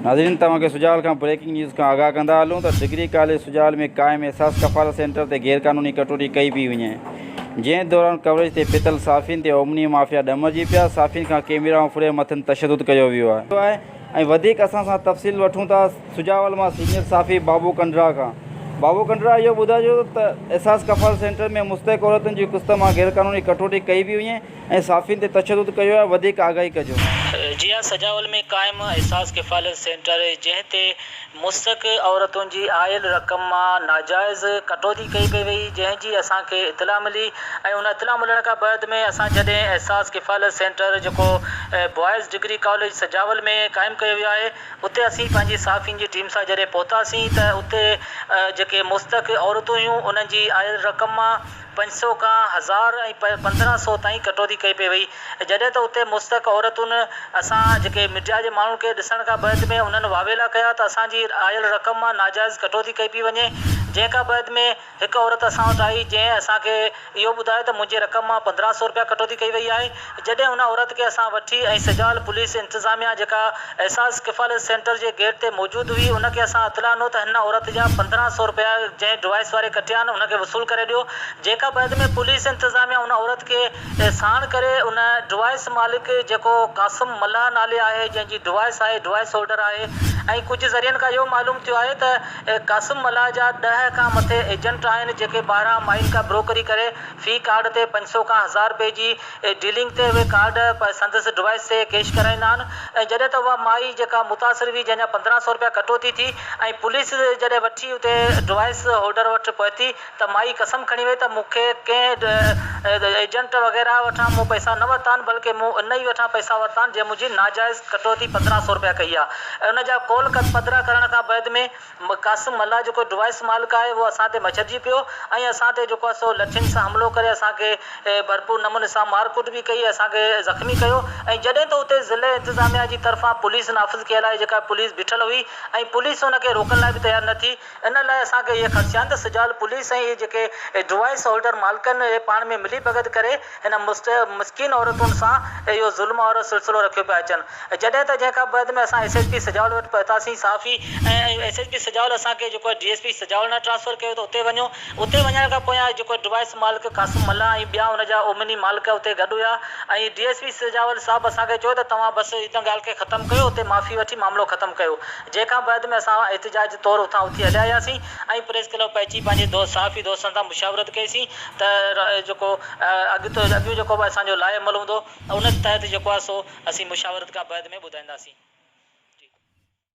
ناظرين توهان کي سجال کان بريڪنگ نيوز کان آگاهه ڪندا هلون ته ڊگري ڪاليج سجال ۾ قائم احساس ڪفالت سينٽر تي غيرقانوني ڪٽوتي ڪئي پئي وڃي جنهن دوران ڪوريج تي پتل صافين تي اومني مافيا ڏمرجي پيا صافين کان ڪيميرائون ڦري مٿن تشدد ڪيو ويو آهي ۽ وڌيڪ اسان سان تفصيل وٺون ٿا سجاول مان سينيئر صافي بابو ڪنڊرا کان بابو ڪنڊرا اهو ٻڌائجو ته احساس ڪفالت سينٽر ۾ مستحق عورتن جي قسط مان غيرقانوني ڪٽوتي ڪئي پئي وڃي ۽ صحافين تي تشدد ڪيو ويو آهي وڌيڪ آگاهي ڪجو. جي ها سجاول ۾ قائم احساس ڪفالت سينٽر جنهن تي مسڪ عورتن جي آيل رقم مان ناجائز ڪٽوتي ڪئي پئي وئي جنهن جي اسان کي اطلاع ملي ۽ ان اطلاع ملڻ کان بعد ۾ اسان جڏهن احساس ڪفالت سينٽر جيڪو بوائز ڊگري ڪاليج سجاول ۾ قائم ڪيو ويو آهي اتي اسين پنهنجي صحافين جي ٽيم سان جڏهن پهتاسين ته اتي جيڪي مسڪ عورتون هيون انهن جي آيل رقم مان پنج سؤ کان هزار ۽ پندرهن سؤ تائين ڪٽوتي ڪئي پئي وئي جڏهن ته اتي مستحق عورتن اسان جيڪي مڊيا جي ماڻهن کي ڏسڻ کان بعد ۾ انهن واويلا ڪيا ته اسان جي آيل رقم مان ناجائز ڪٽوتي ڪئي پئي وڃي جنهن کان بعد ۾ هڪ عورت اسان وٽ آئي جنهن اسان کي اهو ٻڌايو ته منهنجي رقم مان پندرهن سؤ روپيا ڪٽوتي ڪئي وئي آهي. جڏهن ان عورت کي اسان وٺي ۽ سجال پوليس انتظاميا جيڪا احساس ڪفالت سينٽر جي گيٽ تي موجود هئي ان کي اسان اطلاع ڏنو ته هن عورت جا پندرهن سئو رپيا جنهن ڊوائس واري ڪٽيا آهن ان کي وصول ڪري ڏيو جيڪا بعد ۾ پوليس انتظاميا ان عورت کي ساڻ ڪري ان ڊوائس مالڪ جيڪو قاسم ملاح نالي آهي جنهن جي ڊوائس آهي ڊوائس هولڊر آهي ۽ ڪجهه ذريعن کان اهو معلوم ٿيو آهي ته قاسم ملاح جا ڏهه کان مٿي ايجنٽ آهن جيڪي ٻاهران مائين کان بروڪري ڪري في ڪارڊ تي پنج سئو کان هزار رپئي جي ڊيلنگ تي اهي ڪارڊ سندس ڊوائيس تي ڪيش ڪرائيندا آهن ۽ جڏهن ته اها مائي جيڪا متاثر هئي جنهن جا پندرهن سئو رپيا ڪٽوتي ٿي ۽ پوليس جڏهن وٺي اتي ڊوائيس هولڊر وٽ پهتي ته مائي قسم کڻي وئي ته مون کي ڪنهن ايجنٽ وغيره وٺان مون پئسا نه ورتا آهن بلڪه مون ان ئي وٺان پئسا ورتا آهن جنهن منهنجي ناجائز ڪٽوتي پندرهن سئو رپيا ڪئي آهي ۽ ان جا ڪول پڌرا ڪرڻ کان بعد ۾ قاسم ملاح جيڪو ڊوائس مالڪ آهي اهو اسان تي مڇرجي پيو ۽ اسان تي جيڪو آهي سو لٺين سان حملو ڪري اسان کي ڀرپور نموني سان مار ڪٽ به ڪئي اسان کي زخمي ڪيو ۽ جڏهن ته اتي ضلعي انتظاميا جي طرفان پوليس نافذ ڪيل آهي جيڪا پوليس بيٺل هئي ۽ پوليس ان کي روڪڻ لاء به تيار نه ٿي ان لاء اسان کي اهي خدشا آهن ته سجاول پوليس ۽ اهي جيڪي ڊوائس هولڊر مالڪن اهي پاڻ ۾ ملي ڀڳت ڪري هن مسڪين عورتن سان اهو ظلم وارو سلسلو رکيو پيا اچن. جڏهن ته جنهن کان بعد ۾ اسان ايس ايڇ پي سجاول وٽ پهتاسين. صحافي ۽ ايس ايڇ پي سجاول اسان کي جيڪو آهي ڊي ايس پي سجاول ڏانهن ٽرانسفر ڪيو ته اتي وڃو. اتي وڃڻ کان پويان جيڪو ڊوائس مالڪ قاسم ملاح ۽ ٻيا ان جا اومني مالڪ اتي گڏ هيا ۽ ڊي ايس پي سجاول صاحب اسان کي چيو ته توهان بس ان ڳالهه کي ختم ڪيو اتي معافي وٺي معاملو ختم ڪيو جنهن کان بعد ۾ اسان احتجاج طور اتان اٿي هليا اياسين ۽ پريس ڪلب پهچي پنهنجي دوست صحافي دوستن سان مشاورت ڪئي سين. ته جيڪو اڳ تو اڳيون جيڪو به اسان جو لاء عمل هوندو ان تحت جيڪو آهي سو اسين مشاورت کان بعد ۾ ٻڌائينداسين. جي.